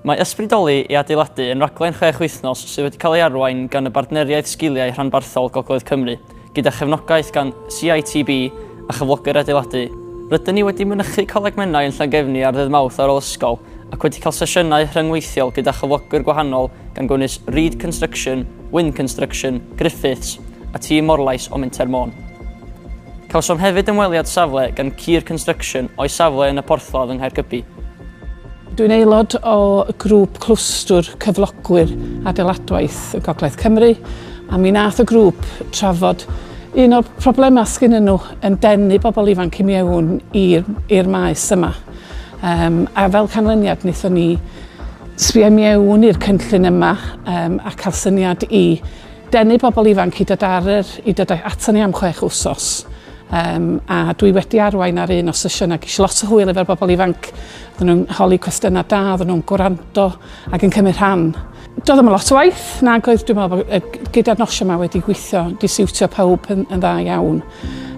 Mae Ysbrydoli i Adeiladu yn raglen chwech wythnos sydd wedi cael ei arwain gan y Bartneriaeth Sgiliau Rhanbarthol Gogledd Cymru, gyda chefnogaeth gan CITB a Chyflogwyr Adeiladu. Rydyn ni wedi mynychu Coleg Menai yn Llangefni ar Ddydd Mawrth ar ôl ysgol, ac wedi cael sesiynau rhyngweithiol gyda chyflogwyr gwahanol gan gynnwys Reed Construction, Wynne Construction, Griffiths a tîm Morlais o Menter Môn. Cawsom hefyd ymweliad safle gan Kier Construction o'u safle yn y Porthladd yng Nghaergybi. Dwi'n aelod o grŵp Clwstwr Cyflogwyr Adeiladwaith y Gogledd Cymru a mi nath y grŵp trafod un o'r problemau sgynnyn nhw yn denu bobl ifanc i mewn i'r maes yma. Um, a fel canlyniad wnaethon ni sbio mewn i'r cynllun yma um, a cael syniad i denu bobl ifanc i dod, ar yr, i dod aton ni am chwech wsos. Um, a dwi wedi arwain ar un o sesiynau, gysi lot o hwyl efo'r bobl ifanc. Oedden nhw'n holi cwestiynau da, oedden nhw'n gwrando ac yn cymryd rhan. Doedd ddim yn lot o waith, na goedd dwi'n meddwl bod gyda'r nosio yma wedi gweithio, disiwtio pawb yn, yn dda iawn.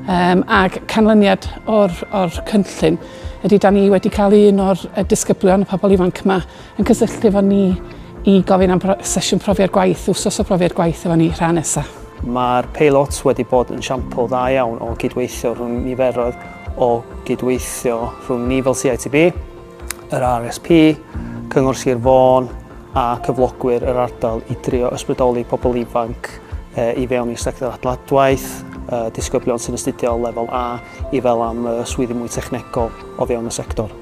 Um, ac canlyniad o'r, or cynllun ydy, da ni wedi cael un o'r disgyblion, y pobl ifanc yma, yn cysylltu efo ni i gofyn am sesiwn profiad gwaith, wsos o brofiad gwaith efo ni rhan nesaf. Mae'r peilot wedi bod yn siampl dda iawn o gydweithio rhwng niferoedd o gydweithio rhwng ni fel CITB, yr RSP, Cyngor Sir Fôn a cyflogwyr yr ardal i drio ysbrydoli pobl ifanc i fewn i'r sector adladwaith, disgyblion sy'n astudio lefel A i fel am swyddi mwy technegol o fewn y sector.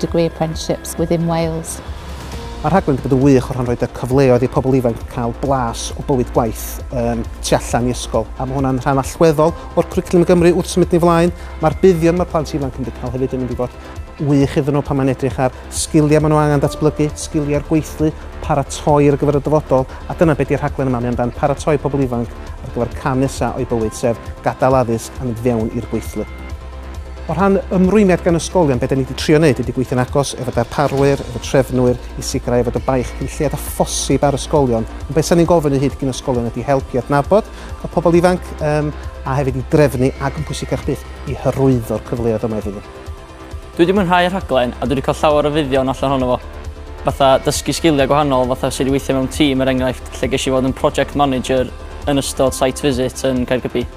degree apprenticeships within Wales. Mae'r rhaglen wedi bod yn wych o rhan roed y cyfleoedd i pobl ifanc cael blas o bywyd gwaith um, tu allan i ysgol, a mae hwnna'n rhan allweddol o'r cwricwlwm yn Gymru wrth symud ni flaen. Mae'r buddion mae'r plant ifanc yn cael hefyd yn mynd i fod wych iddyn nhw pan mae'n edrych ar sgiliau maen nhw angen datblygu, sgiliau'r gweithlu, paratoi ar gyfer y dyfodol, a dyna beth di'r rhaglen yma, mae amdan paratoi pobl ifanc ar gyfer cam nesaf o'i bywyd, sef gadael addysg a mynd fewn i'r gweithlu. O rhan ymrwymiad gan ysgolion, be da ni wedi trio wneud ydy gweithio'n agos efo darparwyr, efo trefnwyr, i sicrhau fod y baich cyn lleied â phosib ar ysgolion. Ond be sa ni'n gofyn i hyd gyn ysgolion ydy help i adnabod y pobl ifanc um, a hefyd i drefnu ac yn pwysicach byth i hyrwyddo'r cyfleoedd yma iddyn nhw. Dwi wedi mwynhau y rhaglen a dwi wedi cael llawer o fuddion allan honno fo. Fatha dysgu sgiliau gwahanol, fatha sut i weithio mewn tîm er enghraifft, lle ges i fod yn project manager yn ystod site visit yn Caergybi.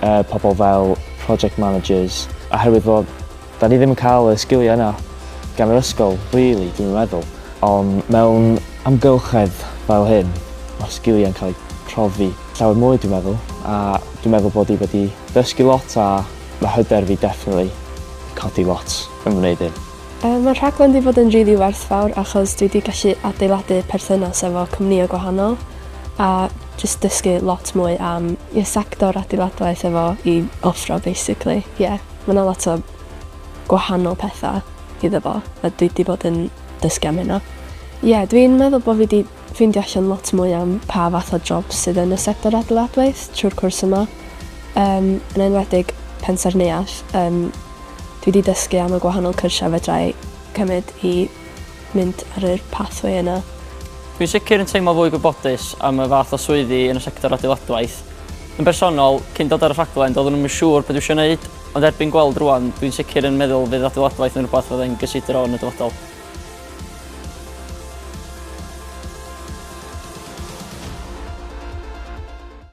yy pobl fel project managers, oherwydd fod 'da ni ddim yn cael y sgiliau yna gan yr ysgol rili dwi'm yn meddwl, ond mewn amgylchedd fel hyn mae'r sgiliau'n cael eu profi llawer mwy dwi'n meddwl, a dwi'n meddwl bod i wedi dysgu lot a mae hyder fi definitely 'di codi lot yn wneud hyn. Yy mae'r rhaglen 'di bod yn rili werthfawr achos dwi 'di gallu adeiladu perthynas efo cwmnïau gwahanol a jyst dysgu lot mwy am y sector adeiladwaith efo i offro basically. Ie, ma' 'na lot o gwahanol petha iddo fo a dwi 'di bod yn dysgu am hynna. Ie, dwi'n meddwl bo' fi 'di ffeindio allan lot mwy am pa fath o jobs sydd yn y sector adeiladwaith trw'r cwrs yma. Yym yn enwedig Pensaernïaeth yym dwi 'di dysgu am y gwahanol cyrsia fedrai cymyd i mynd ar yr pathway yna. Dwi'n sicr yn teimlo fwy gwybodus am y fath o swyddi yn y sector adeiladwaith. Yn bersonol, cyn dod ar y rhaglen doeddwn i'm yn siŵr be dwi eisiau wneud, ond erbyn gweld rŵan, dwi'n sicr yn meddwl fydd adeiladwaith yn rhywbeth fydda i'n gysidro yn y dyfodol.